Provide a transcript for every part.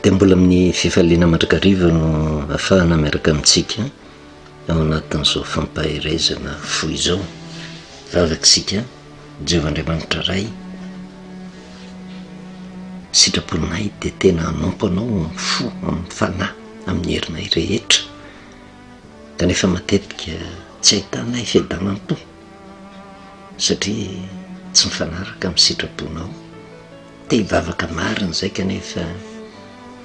dia mbola amin'ny fifaliana mandrakariva no afahana miaraka amintsika ao anatin'izao fampaherezana fo izao vavatsika jehovah andriamanitra ray sitraponay dia tena hanompo anao fo amin'ny fanahy amin'ny herinay rehetra kanefa matetika tsy ahitanay fiadanan-to satria tsy mifanaraka amin'ny sitraponao. Te hivavaka marina izay kanefa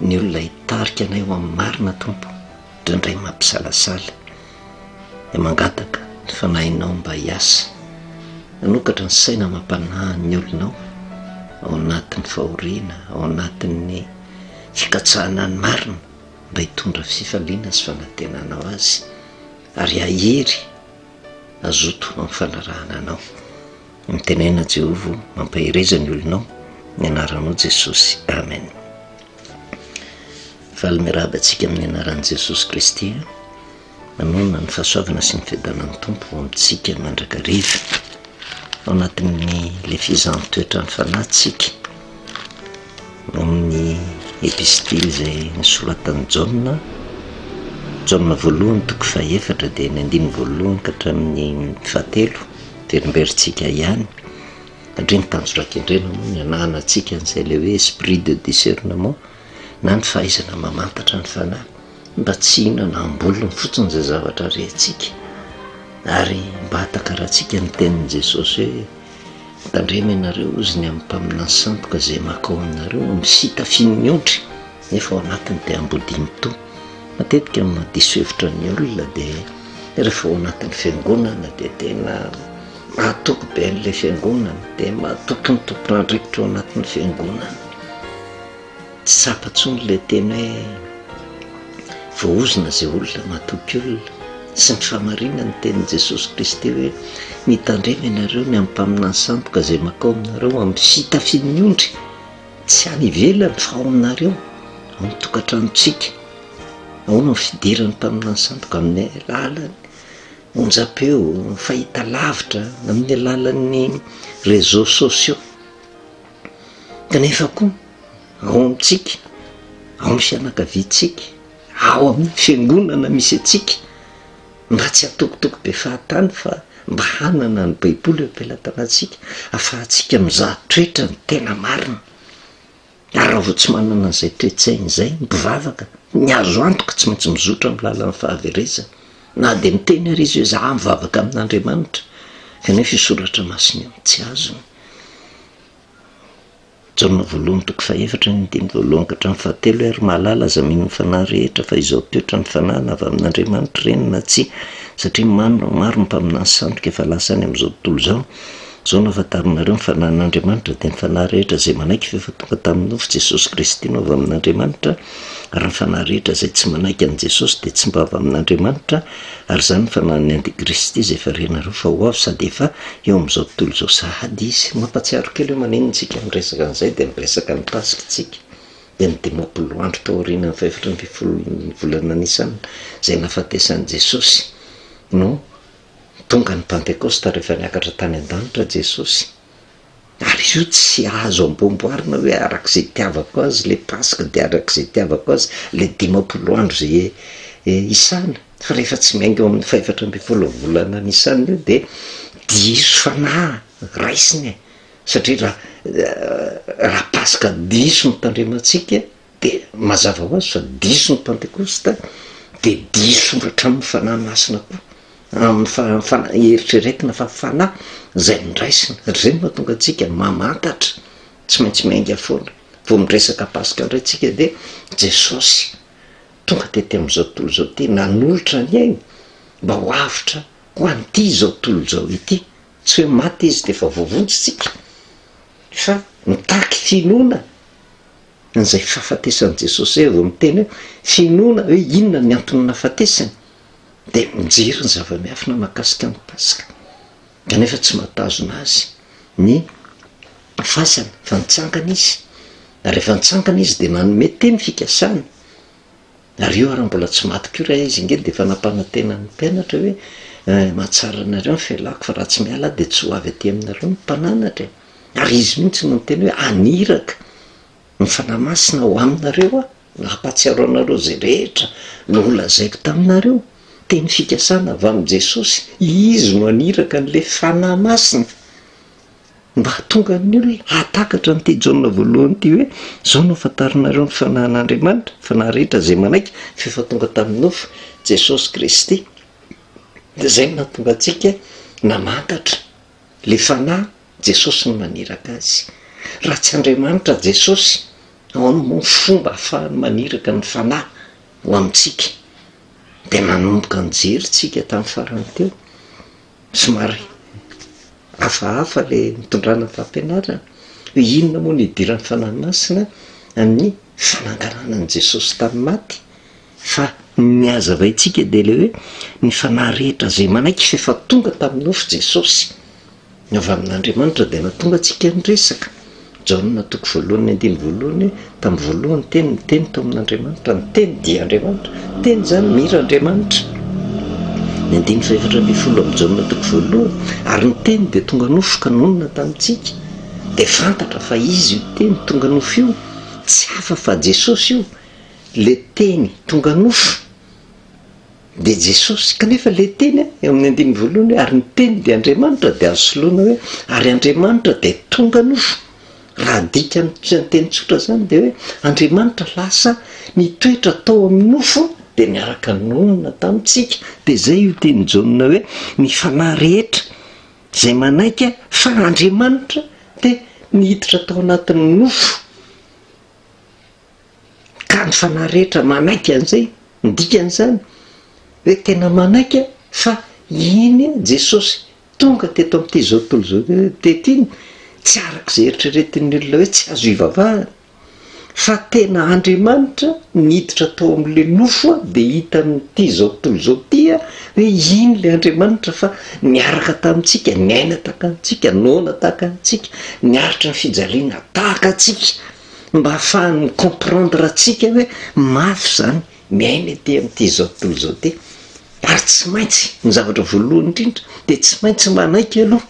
ny olona hitarika anay ho amin'ny marina Tompo indraindray mampisalasala dia mangataka ny fanahinao mba hiasa hanokatra ny saina amam-panahy ny olonao ao anatin'ny fahoriana, ao anatin'ny fikatsahana ny marina. mba hitondra fifaliana sy fanantenana ho azy ary hahery hazoto amin'ny fanarahana anao. Mitenena an'i Jehovah ho mampahereza ny olonao ny anaranao Jesosy. Amen. Faly mirahaba antsika amin'ny anaran'i Jesosy Kristy. Amen Ny fahasoavana sy ny fiadanan'ny Tompo ho amintsika mandrakariva ao anatin'ny le fizahany toetran'ny fanahy tsika amin'ny epistily izay nisoratan'i Jaona Jaona voalohany toko fahefatra dia ny andininy voalohany ka hatramin'ny fahatelo dia rimberintsika ihany satria ny tanjorakendrena moa ny anahana antsika an'izay le hoe esprit de discernement na ny fahaizana mamantatra ny fanahy mba tsy hihinana am-bolony fotsiny izay zavatra rehintsika ary mba hatakarantsika ny tenin'i Jesosy hoe mitandrema ianareo hozy ny amin'ny mpaminany sandoka izay makao aminareo no misita fin'ny ondry nefa ao anatiny dia ambodiny toa matetika no madiso hevitra ny olona dia rehefa ao anatin'ny fiangonana dia tena mahatoky be an'ilay fiangonana dia mahatoky ny tompon'andrikitra ao anatin'ny fiangonana tsy tsapa intsony ilay teny hoe voaozona izay olona matoky olona, sy ny fahamarinan'ny tenin'i Jesosy Kristy hoe mitandrema ianareo ny amin'ny mpaminany sandoka izay makao aminareo amin'ny fitafian'ny ondry, tsy any ivelany fa ao aminareo, ao amin'ny tokantranontsika, ao no fidiran'ny mpaminany sandoka amin'ny alalan'ny onjampeo, fahitalavitra, amin'ny alalan'ny réseaux sociaux. kanefa koa ao amintsika, ao amin'ny fianakaviantsika, ao amin'ny fiangonana misy antsika, mba tsy atokotoko be fahatany fa mba hanana ny Baiboly eo am-pelatanantsika, ahafahantsika mizaha toetra ny tena marina. Ary raha vao tsy manana an'izay toe-tsaina izay ny mpivavaka, ny azo antoka tsy maintsy mizotra amin'ny lalan'ny fahaverezana, na dia miteny ary izy hoe izaho mivavaka amin'Andriamanitra, kanefa io soratra masina io tsy azony. Jaona voalohany toko fahefatra ny andininy voalohany ka hatramin'ny fahatelo Ary mahalala aza mino ny fanahy rehetra fa izao toetra ny fanahy na avy amin'Andriamanitra ireny na tsia satria maro maro ny mpaminany sandoka efa lasa any amin'izao tontolo izao Izao no hahafantarinareo ny fanahin'Andriamanitra dia ny fanahy rehetra izay manaiky f'efa tonga tamin'ny nofo Jesosy Kristy no avy amin'Andriamanitra Ary ny fanahy rehetra izay tsy manaiky an'i Jesosy dia tsy mba avy amin'Andriamanitra, ary izany ny fanahin'ny antikristy izay efa renareo fa ho avy sady efa eo amin'izao tontolo izao sahady izy. Mampatsiaro kely io maninontsika miresaka an'izay dia miresaka ny Paska isika, dia ny dimampolo andro tao aorianan'ny fahefatra ambin'ny folon'ny volana Nisan izay nahafatesan'i Jesosy no tonga ny Pantekosta rehefa niakatra tany an-danitra Jesosy. Ary izy io tsy azo amboamboarina hoe arak'izay itiavako azy le Paska de arak'izay itiavako azy le dimampolo andro zay isana, fa rehefa tsy miainga eo amin'ny fahefatra ambin'ny folo volana nisana io de diso fanahy raisina e! satria raha raha Paska diso no tandremantsika, Dia mazava ho azy fa diso ny Pantekosta, dia diso hatramin'ny Fanahy Masina koa, amin'ny fa, fana, eritreretina fa Fanahy izay nondraisina. Ry izay no mahatonga antsika mamantatra, tsy maintsy miainga foana. Vao miresaka Paska indray tsika dia Jesosy tonga tety amin'izao tontolo izao ity, nanolotra ny ainy mba ho avotra ho an'ity izao tontolo izao ity. Tsy hoe maty Izy dia efa voavonjy tsika, fa mitaky finoana. an'izay fahafatesan'i Jesosy izay vao miteny hoe finoana hoe inona ny antony nahafatesany dia mijery ny zava-miafina mahakasika ny Paska kanefa tsy mahatazona azy ny fasana fa nitsangana izy ary rehefa nitsangana izy dia nanome teny fikasana Ary io ary mbola tsy maty koa ra izy nge dia efa nampanantena ny mpianatra hoe eh, mahatsara anareo ny fialako fa raha tsy miala aho dia tsy ho avy aty aminareo ny mpananatra e! Ary izy mihitsy no niteny hoe haniraka ny Fanahy Masina ho aminareo aho mba hampahatsiaro anareo izay rehetra nolazaiko taminareo. Teny fikasana avy amin'i Jesosy. Izy no haniraka an'ilay Fanahy Masina. Mba hahatonga ny olona hahatakatra an'ity Jaona voalohany ity hoe, Izao no hahafantaranareo ny fanahin'Andriamanitra, fa na rehetra izay manaiky fa efa tonga tamin'ny nofo Jesosy Kristy. Dia izay no nahatonga antsika namantatra ilay Fanahy, Jesosy no naniraka azy. Raha tsy Andriamanitra Jesosy, ahoana moa ny fomba ahafahany maniraka ny Fanahy ho amintsika? Dia nanomboka nijery isika tamin'ny farany teo. Somary hafahafa ilay nitondrana fampianarana, hoe inona moa no idiran'ny Fanahy Masina amin'ny fananganana an'i Jesosy tamin'ny maty, fa ny hazavaintsika dia ilay hoe ny fanahy rehetra izay manaiky f'efa tonga tamin'ny nofo Jesosy, ny avy amin'Andriamanitra dia nahatonga antsika niresaka. Jaona toko voalohany andininy voalohany Tamin'ny voalohany ny Teny, ny Teny tao amin'Andriamanitra, ny Teny dia Andriamanitra, ny Teny izany mira Andriamanitra. Ny andininy fahefatra ambin'ny folo amin'ny Jaona toko voalohany Ary ny Teny dia tonga nofo ka nonina tamintsika, dia fantatra fa Izy io Teny tonga nofo io, tsy hafa fa Jesosy io, ilay Teny tonga nofo. dia Jesosy, kanefa ilay Teny a, eo amin'ny andininy voalohany hoe, ary ny Teny dia Andriamanitra, dia azo soloina hoe, ary Andriamanitra dia tonga nofo. Raha adika amin'ny teny tsotra izany dia hoe, Andriamanitra lasa nitoetra tao amin'ny nofo dia niaraka nonina tamintsika. Dia izay io tenin'i Jaona hoe, ny fanahy rehetra izay manaiky fa Andriamanitra dia niditra tao anatin'ny nofo. ka ny fanahy rehetra manaiky an'izay, ny dikan'izany hoe tena manaiky fa iny Jesosy tonga teto amin'ity zao tontolo izao teto iny tsy arak'izay eritreretin'ny olona hoe tsy azo ivavahana fa tena Andriamanitra niditra tao amin'ilay nofo dia hitan'ity zao tontolo izao ity hoe iny ilay Andriamanitra fa niaraka tamintsika, niaina tahaka antsika, noana tahaka antsika, niaritra ny fijaliana tahaka antsika. mba hahafahany mi comprendre antsika hoe mafy izany miaina ety amin'ity izao tontolo izao ity, ary tsy maintsy ny zavatra voalohany indrindra dia tsy maintsy manaiky aloha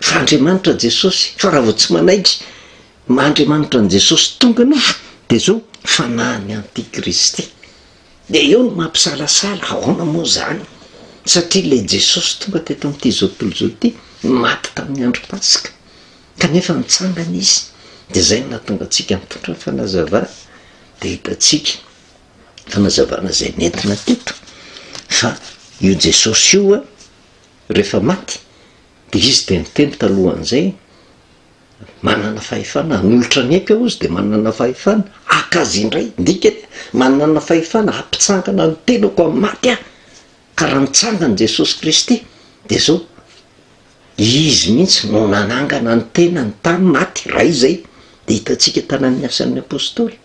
fa Andriamanitra Jesosy, fa raha vao tsy manaiky maha Andriamanitra an'i Jesosy tonga aloha dia zao fanahin'ny antikristy, dia eo no maha mpisalasala, ahoana moa izany satria ilay Jesosy tonga teto amin'ity izao tontolo izao ity maty tamin'ny andro paska, Kanefa mitsangana izy, dia izay no nahatonga antsika mitondra ny fanazavana. Dia hitantsika fanazavana izay nentina teto, fa io Jesosy io rehefa maty, dia izy dia niteny talohan'izay, manana fahefana hanolotra ny aiko aho, izy dia manana fahefana haka azy indray. Ny dikany, manana fahefana hampitsangana ny tenako amin'ny maty aho. Ka raha nitsangana Jesosy Kristy, dia izao. Izy mihitsy no nanangana ny tenany tany maty iray izay, dia hitantsika tany amin'ny Asan'ny Apostoly.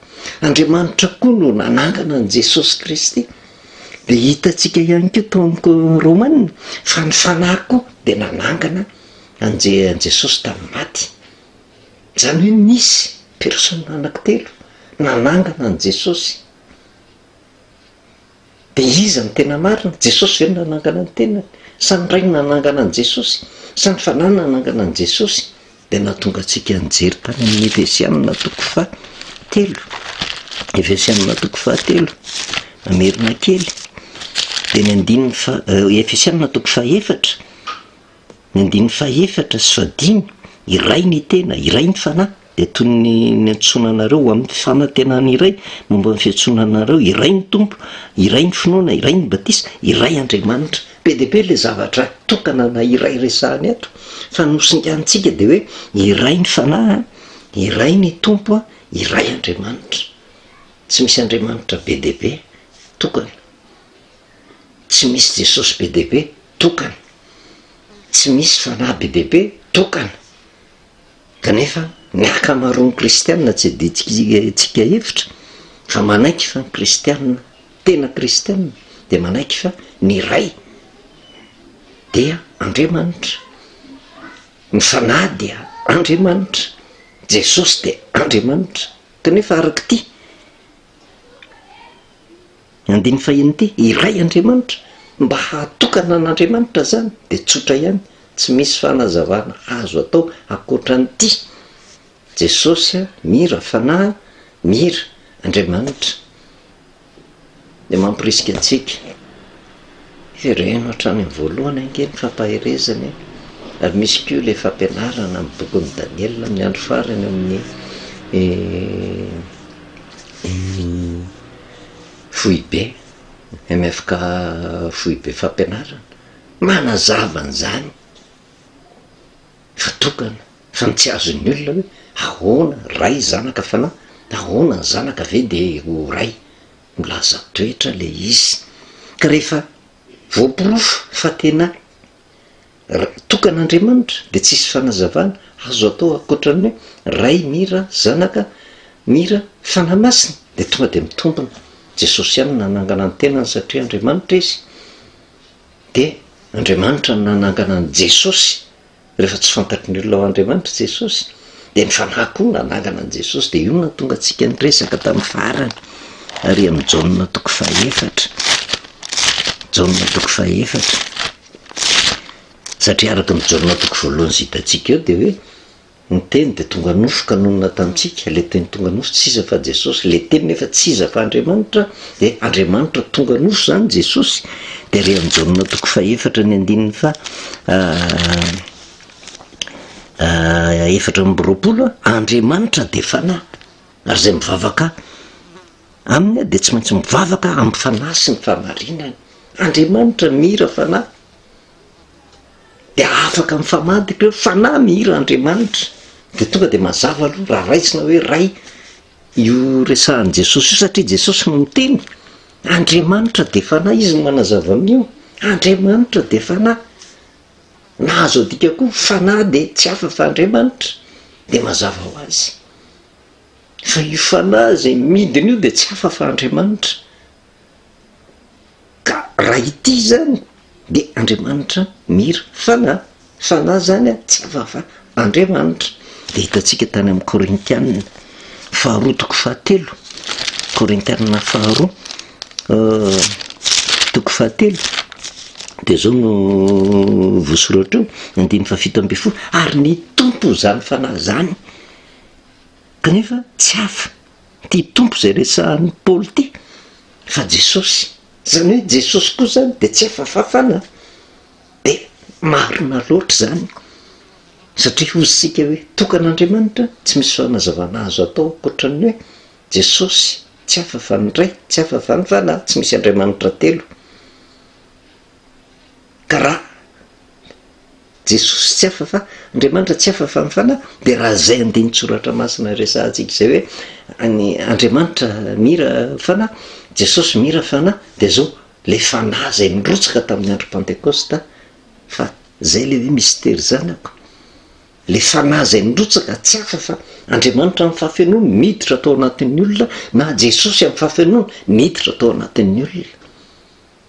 Andriamanitra koa no nanangana an'i Jesosy Kristy. Dia hitantsika ihany koa tao amin'ny Romana fa ny Fanahy koa dia nanangana an'i Je, an'i Jesosy tamin'ny maty. Izany hoe nisy Persona anankitelo nanangana an'i Jesosy. Dia iza no tena marina? Jesosy ve no nanangana ny tenany? Sa ny Ray no nanangana an'i Jesosy? Sa ny Fanahy no nanangana an'i Jesosy? Dia nahatonga antsika nijery tany amin'ny Efesianina toko faha telo. Efesianina toko faha telo. Mamerina kely. Dia ny andininy faha, Efesianina toko faha efatra. Ny andininy fahefatra sy fahadimy, Iray ny tena, iray ny Fanahy, dia toy ny niantsoana anareo ho amin'ny fanantenana iray momba ny fiantsoana anareo, iray ny Tompo, iray ny finoana, iray ny batisa, iray Andriamanitra. Be dia be ilay zavatra tokana na iray resahany eto, fa ny nosinganintsika dia hoe iray ny Fanahy, iray ny Tompo, iray Andriamanitra. Tsy misy Andriamanitra be dia be tokana. tsy misy Jesosy be dia be tokana, tsy misy fanahy be dia be tokana, kanefa ny ankamaroan'ny kristiana tsy adidintsika hevitra fa manaiky fa ny kristiana tena kristiana dia manaiky fa ny iray dia Andriamanitra, ny fanahy dia Andriamanitra, Jesosy dia Andriamanitra, kanefa arak'ity. Ny andininy fahiny ity, iray Andriamanitra, mba hahatokana an'Andriamanitra izany dia tsotra ihany, tsy misy fanazavana azo atao ankoatran'ity, Jesosy a, Mira, Fanahy, Mira, Andriamanitra. Dia mamporisika antsika. Jereno hatrany amin'ny voalohany ange ny fampaherezana e! Ary misy koa ilay fampianarana amin'ny bokin'i Daniela amin'ny andro farany amin'ny foibe, MFK foibe fampianarana. Manazava an'izany fa tokana, fa ny tsy azon'ny olona hoe ahoana ray zanaka fanahy, ahoana ny zanaka ve dia ho ray. milaza toetra le izy ka rehefa voaporofo fa tena tokan'Andriamanitra de tsisy fanazavana azo atao ankoatran'ny hoe Ray mira zanaka mira fanahy masina de tonga de mitombina Jesosy ihany no nanangana ny tenany satria Andriamanitra izy de Andriamanitra no nanangana an'i Jesosy Rehefa tsy fantatry ny olona ho Andriamanitra i Jesosy, dia ny fanahy koa nanangana an'i Jesosy, dia io no nahatonga antsika niresaka tamin'ny farany ary amin'ny Jaona toko fahefatra, Jaona toko fahefatra, satria araka ny Jaona toko voalohany izay hitantsika eo dia hoe ny teny dia tonga nofo ka nonina tamintsika, ilay teny tonga nofo tsy iza fa Jesosy, ilay teny nefa tsy iza fa Andriamanitra, de Andriamanitra tonga noso zany Jesosy de re am Jaona toko fahefatra ny andininy faha efatra amby roapolo a, Andriamanitra de fanahy ary zay mivavaka aminy a de tsy maintsy mivavaka am fanahy sy ny fahamarinany, Andriamanitra mihira fanahy de afaka mifamadika eo, fanahy mihira Andriamanitra de tonga de mazava aloha raha raisina hoe ray, Io resahan'i Jesosy io satria Jesosy no miteny, Andriamanitra dia Fanahy, Izy no manazava amin'io, Andriamanitra dia Fanahy. Na azo adika koa Fanahy dia tsy hafa fa Andriamanitra, dia mazava ho azy fa io Fanahy izay midina io dia tsy hafa fa Andriamanitra. Ka raha ity izany dia Andriamanitra mira fanahy, fanahy izany tsy hafa fa Andriamanitra. Dia hitantsika tany amin'ny Korintianina faharoa toko fahatelo, Korintianina faharoa toko fahatelo dia izao no voasoratra eo, andininy fahafito ambin'ny folo, ary ny Tompo izany fanahy izany kanefa tsy hafa. Ty Tompo izay resahan'i Paoly ty fa Jesosy. Izany hoe Jesosy koa izany dia tsy afa-fafana an! Dia marina loatra izany satria hoy isika hoe tokan'Andriamanitra tsy misy fanazavana azo atao ankoatran'ny hoe Jesosy tsy afa-fa ny Ray, tsy afa-fa ny Fanahy, tsy misy Andriamanitra telo. Ka raha Jesosy tsy hafa fa Andriamanitra tsy hafa fa ny Fanahy, dia raha izay andinin-tsoratra masina resahantsika izay hoe any Andriamanitra mira Fanahy, Jesosy mira Fanahy, dia zao, ilay Fanahy izay nirotsaka tamin'ny andro Pantekosta, fa izay ilay hoe mistery zanako, ilay Fanahy izay nirotsaka tsy hafa fa Andriamanitra amin'ny fahafenoany niditra tao anatin'ny olona na Jesosy amin'ny fahafenoany niditra tao anatin'ny olona.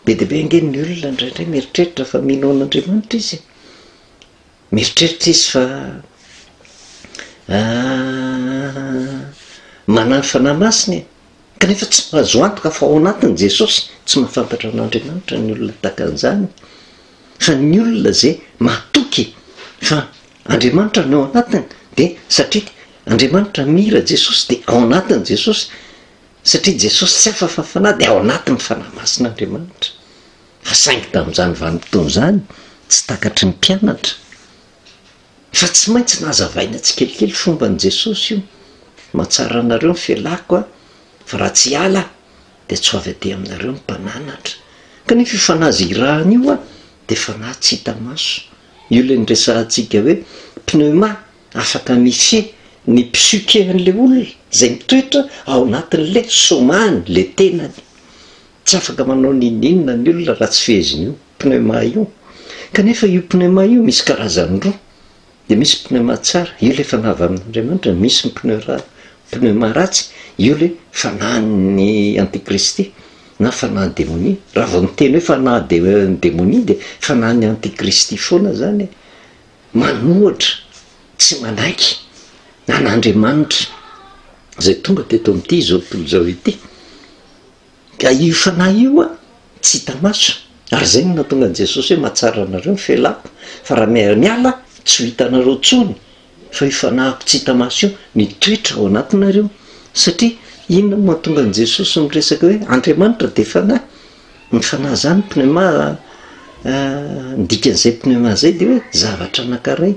Be dia be ange ny olona indraindray mieritreritra fa mino an'Andriamanitra izy e. Mieritreritra izy fa manana fanahy masina e. Kanefa tsy mahazo antoka fa ao anatin'i Jesosy. Tsy mahafantatra an'Andriamanitra ny olona tahaka an'izany. Fa ny olona izay mahatoky fa Andriamanitra no ao anatiny dia satria Andriamanitra mira Jesosy dia ao anatin'i Jesosy. Satria Jesosy tsy hafa fa Fanahy dia ao anatin'ny Fanahy Masina Andriamanitra. Fa saingy tamin'izany vanim-potoana izany tsy takatry ny mpianatra. Fa tsy maintsy nazavaina tsikelikely fomban'i Jesosy io, Mahatsara anareo ny felako Aho, fa raha tsy hiala Aho, dia tsy ho avy aty aminareo ny mpananatra. Kanefa io Fanahy izay irahana io dia Fanahy tsy hita maso. Io ilay niresahantsika hoe pneuma Afaka mifehy ny psyque an'ilay olona izay mitoetra ao anatin'ilay somany, ilay tenany. Tsy afaka manao n'inon'inona ny olona raha tsy fehezin'io pneuma io. Kanefa io pneuma io misy karazany roa, dia misy pneuma tsara, io ilay fanahy avy amin'Andriamanitra, misy ny pneura pneuma ratsy, io ilay fanahin'ny antikristy na fanahin'ny demonia. Raha vao miteny hoe fanahin'ny demonia dia fanahin'ny antikristy foana izany e! manohatra tsy manaiky an'Andriamanitra izay tonga teto amin'ity izao tontolo izao ity, ka io fanahy io an, tsy hita maso, ary izay no nahatonga an'i Jesosy hoe mahatsara anareo ny felako, fa raha miara-miala tsy ho hitanareo intsony, fa io fanahiko tsy hita maso io no hitoetra ao anatinareo, satria inona no mahatonga an'i Jesosy miresaka hoe Andriamanitra dia fanahy? Ny fanahy izany pneuma ny dikan'izay pneuma izay dia hoe zavatra anankiray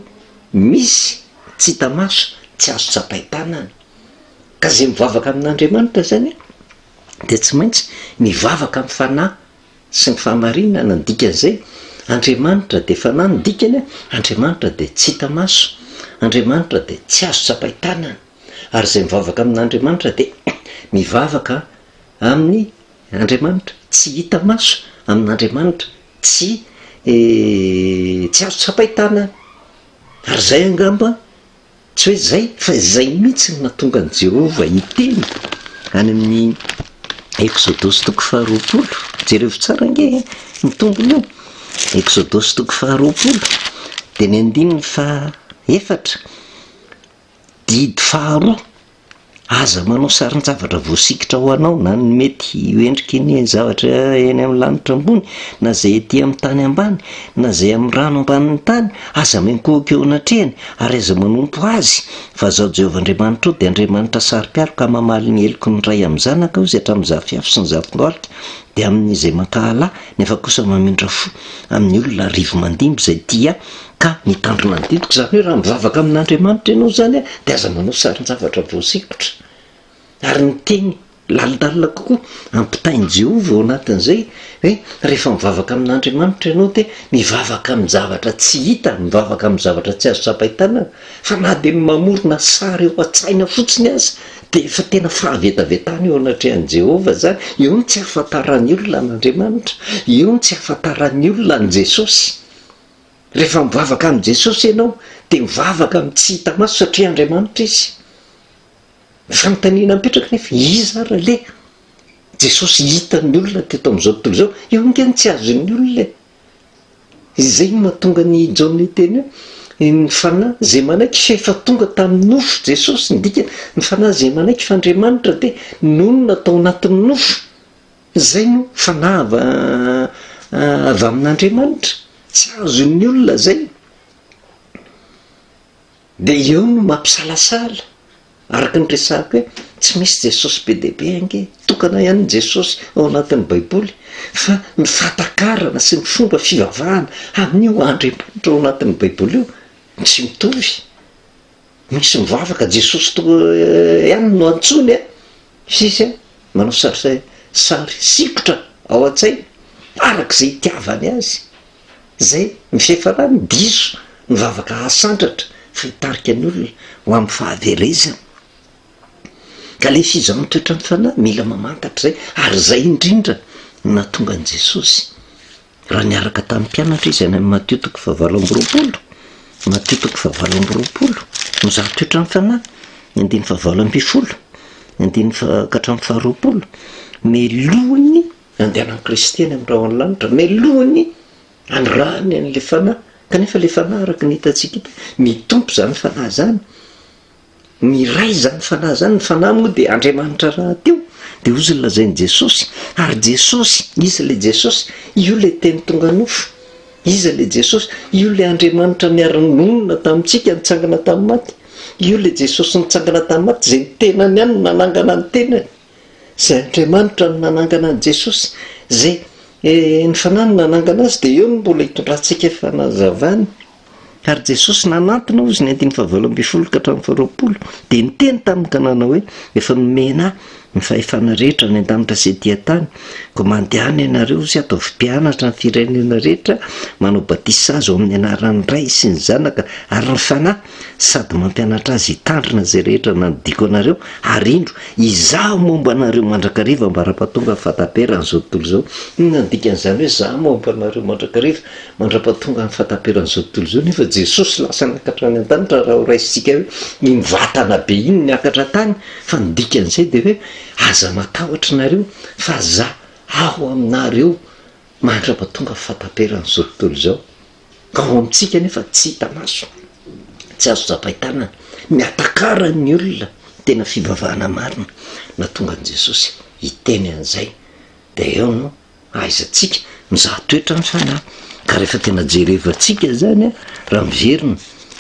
misy tsy hita maso, tsy azo tsapain-tanana. Ka izay mivavaka amin'Andriamanitra izany dia tsy maintsy mivavaka amin'ny fanahy sy ny fahamarinana, ny dikan'izay Andriamanitra dia fanahy, ny dikany hoe Andriamanitra dia tsy hita maso, Andriamanitra dia tsy azo tsapain-tanana ary izay mivavaka amin'Andriamanitra dia mivavaka amin'ny Andriamanitra, tsy hita maso, amin'Andriamanitra, tsy tsy azo tsapain-tanana. Ary izay angamba, tsy hoe izay, fa izay mihitsy no nahatonga an'i Jehovah hiteny any amin'ny Eksodosy toko faharoapolo. Jerevo tsara ange e, ny tombony eo. Eksodosy toko faharoapolo, dia ny andininy fahaefatra. Didy faharoa, Aza manao sarin-javatra voasikitra ho anao na ny mety ho endriky ny zavatra eny amin'ny lanitra ambony na izay ety amin'ny tany ambany na izay amin'ny rano ambanin'ny tany. Aza miankohoka eo anatrehany ary aza manompo azy, fa Izaho Jehovah Andriamanitrao dia Andriamanitra saro-piaro ka mamaly ny heloky ny ray amin'ny zanaka ozy hatramin'ny zafiafy sy ny zafin-dohalika dia amin'izay mankahala nefa kosa mamindra fo amin'ny olona rivo-mandimby izay tia Ka mitandro manodidiko, izany hoe raha mivavaka amin'Andriamanitra ianao izany dia aza manao sarin-javatra voasikotra. Ary ny teny lalindalina kokoa ampitain'i Jehovah ao anatin'izay hoe rehefa mivavaka amin'Andriamanitra ianao dia mivavaka amin-javatra tsy hita, mivavaka amin'ny zavatra tsy azo tsapain-tanana. Fa na dia ny mamorona sary ao an-tsaina fotsiny aza dia efa tena fahavetavetana eo anatrehan'i Jehovah izany. Eo no tsy ahafantaran'ny olona an'Andriamanitra. Eo no tsy ahafantaran'ny olona an'i Jesosy. Rehefa mivavaka amin'i Jesosy ianao dia mivavaka amin'ny tsy hita maso satria Andriamanitra Izy. Ny fanontaniana mipetraka nefa, iza ary le Jesosy hitan'ny olona teto amin'izao tontolo izao? Io ange no tsy azon'ny olona e! Izay no mahatonga an'i Jaona hiteny hoe, ny fanahy izay manaiky fa efa tonga tamin'ny nofo Jesosy, ny dikany, ny fanahy izay manaiky fa Andriamanitra dia nonina tao anatin'ny nofo. Izay no fanava avy amin'Andriamanitra, tsy azon'ny olona izay. Dia eo no mampisalasala, araka ny resahako hoe tsy misy Jesosy be dia be ange, tokana ihany ny Jesosy ao anatin'ny Baiboly, fa ny fahatakarana sy ny fomba fivavahana amin'io Andriamanitra ao anatin'ny Baiboly io tsy mitovy. Misy mivavaka Jesosy toa ihany no antsoiny a! Sisy a! Manao sary sary sikotra ao an-tsainy araka izay itiavany azy. Izay ny fihafarany, diso ny vavaka hahasandratra fa hitarika ny olona ho amin'ny fahaverezana. Ka ilay fizahan'ny toetran'ny fanahy mila mamantatra izay ary izay indrindra no nahatonga an'i Jesosy. Raha niaraka tamin'ny mpianatra izy any amin'ny Matio toko fahavalo amby roapolo, Matio toko fahavalo amby roapolo, no zava-toetra amin'ny fanahy, ny andininy fahavalo ambin'ny folo, ny andininy fa- ka hatramin'ny faharoapolo, melohiny handehanan'i Kristy any amin'ny rahona ny lanitra, melohiny hanirahany an'ilay fanahy, kanefa ilay fanahy araka ny hitantsika eto, mitompo izany fanahy izany. Miray izany fanahy izany, ny fanahy moa dia Andriamanitra rahateo, dia hozy ny lazain'i Jesosy, ary Jesosy, iza ilay Jesosy? Io ilay Teny tonga nofo. Iza ilay Jesosy? Io ilay Andriamanitra niara-nonina tamintsika, nitsangana tamin'ny maty. Io ilay Jesosy nitsangana tamin'ny maty, izay ny tenany ihany no nanangana ny tenany. Izay Andriamanitra no nanangana an'i Jesosy, izay ny Fanahy no nanangana Azy dia eo no mbola hitondrantsika fanazavana. Ary Jesosy nanantona hozy ny andininy fahavalo ambin'ny folo ka hatramin'ny faharoapolo dia niteny taminy ka nanao hoe, Efa nomena Ahy ny fahefana rehetra any an-danitra sy ety an-tany, koa mandehana ianareo hozy ataovy mpianatra ny firenena rehetra, manao batisa azy ao amin'ny anaran'ny Ray sy ny Zanaka ary ny Fanahy, sady mampianatra azy hitandrina izay rehetra nandidiako anareo, ary indro, izaho momba anareo mandrakariva ambara-pahatonga ny fahataperan'izao tontolo izao. Inona no dikan'izany hoe izaho momba anareo mandrakariva mandra-pahatonga ny fahataperan'izao tontolo izao? Nefa Jesosy lasa niakatra hatrany an-danitra raha horaisintsika hoe iny vatana be iny niakatra an-tany, fa ny dikan'izay dia hoe aza matahotra nareo fa izaho aho aminareo mandra-pahatonga ny fahataperan'izao tontolo izao. Ka ao amintsika anefa tsy hita maso, tsy azo tsapain-tanana, ny atakaran'ny olona ny tena fivavahana marina. Nahatonga an'i Jesosy hiteny an'izay dia eo no ahaizantsika mizaha toetra ny fanahy. Ka rehefa tena jerevantsika izany, raha miverina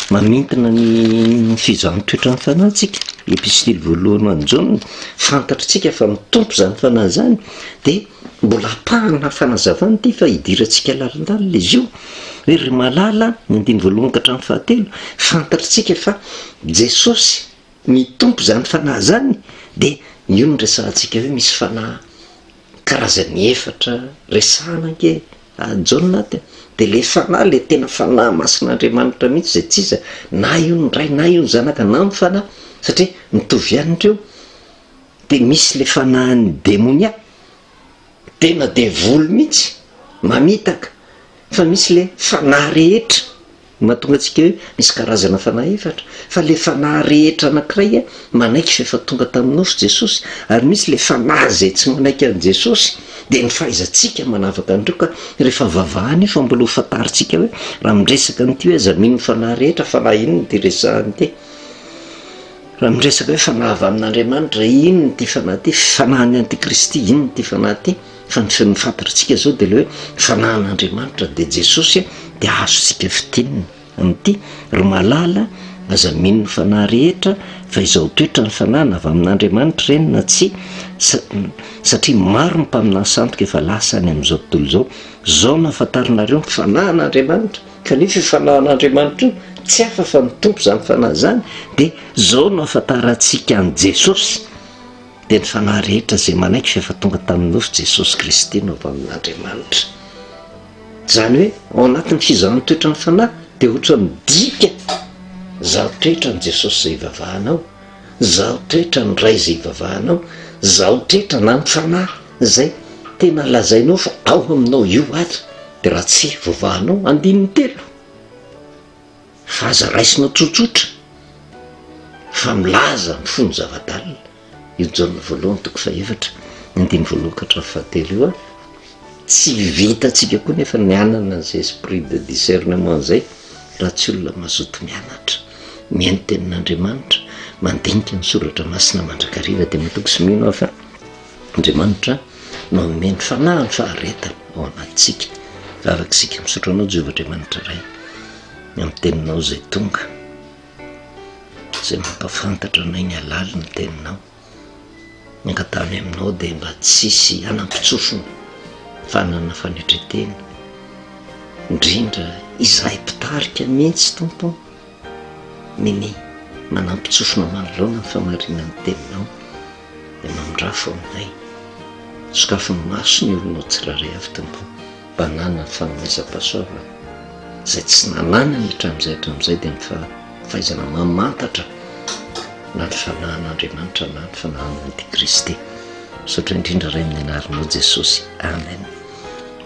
mamintina ny fizaha ny toetra ny fanahy tsika, Epistily voalohany ho an'i Jaona, fantatr'tsika fa ny Tompo izany fanahy izany dia, Mbola apahana fanazavana ity fa idirantsika lalandalina izy io hoe ry malala ny andininy voalohany ka hatramin'ny fahatelo fantatritsika fa Jesosy ny Tompo izany fanahy izany dia io no resahantsika hoe misy fanahy karazany efatra resahana ange any Jaona aty a! dia ilay fanahy ilay tena fanahy masin'Andriamanitra mihitsy izay tsy iza na io ny Ray na io ny Zanaka na ny Fanahy satria mitovy ihany ireo dia misy le fanahin'ny demonia, tena devoly mihitsy, mamitaka, fa misy le fanahy rehetra, mahatonga antsika hoe misy karazana fanahy efatra, fa le fanahy rehetra anankiray manaiky f'efa tonga tamin'ny nofo Jesosy, ary misy le fanahy izay tsy manaiky an'i Jesosy, dia ny fahaizantsika manavaka an'ireo ka rehefa vavahana io fa mbola ho fantarintsika hoe raha miresaka an'ity hoe aza mino ny fanahy rehetra, fanahy inona ity resahana ity? Raha miresaka hoe fanahy avy amin'Andriamanitra, inona ity fanahy ity? Fanahin'ny antikristy, inona ity fanahy ity? Fa ny feno fantatrtsika zao de le hoe fanahin'Andriamanitra de Jesosy a, de azontsika fintinina amin'ity, ry malala aza mino ny fanahy rehetra fa izao toetra ny fanahy na avy amin'Andriamanitra ireny na tsia, sa- satria maro ny mpaminany sandoka efa lasa any amin'izao tontolo izao, zao no ahafantaranareo ny fanahin'Andriamanitra, Kanefa io fanahin'Andriamanitra io, tsy hafa fa ny Tompo izany fanahy izany, dia izao no ahafantarantsika an'i Jesosy, dia ny fanahy rehetra izay manaiky fa efa tonga tamin'ny nofo Jesosy Kristy no avy amin'Andriamanitra. Izany hoe ao anatin'ny fizahan'ny toetran'ny fanahy dia ohatra midika, izaho toetra an'i Jesosy izay ivavahanao, izaho toetra ny Ray izay ivavahanao, izaho toetra na ny fanahy. Zay tena lazainao fa ao aminao io ary de raha tsy voavahanao andininy telo fa aza raisinao tsotsotra fa milaza am fony zavadalina io jaona voalohany toko fahefatra andininy voalohan ka hatramin'ny fahatelo io a! tsy vitantsika koa nefa ny hanana an'zay esprit de discernement zay raha tsy olona mazoto mianatra mihaino tenin'Andriamanitra mandinika ny soratra masina mandrakariva de matoky sy mino aho fa Andriamanitra no hanome ny fanahy ny faharetany ao anatintsika, raha araka isika misaotra Anao Jehovah Andriamanitra Ray amin'ny teninao izay tonga, izay mampafantatra anay ny halalin'ny teninao, ny angatahany aminao dia mba tsy hisy hanam-pitsofina fa hanana fanetren-tena, indrindra izahay mpitarika mihitsy Tompo ô. Nini, manampy tsofina manoloana ny famarinan'ny teninao dia mamindrafo aminay. Sokafy ny maso ny olona ho tsirairay avy Tompo mba hananany ny fanomezam-pahasoavana izay tsy nananany hatramin'izay hatramin'izay dia ny fahaizana mamantatra na ny fanahin'Andriamanitra na ny fanahin'Antikristy. Misaotra indrindra Ray amin'ny anaranao Jesosy. Amen.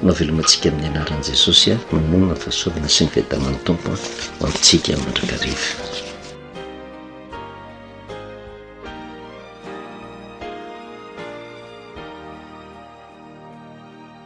Mahavelomantsika amin'ny anaran'i Jesosy aho, mamono ny fahasoavana sy ny fiadanan'ny Tompo ho antsika mandrakariva.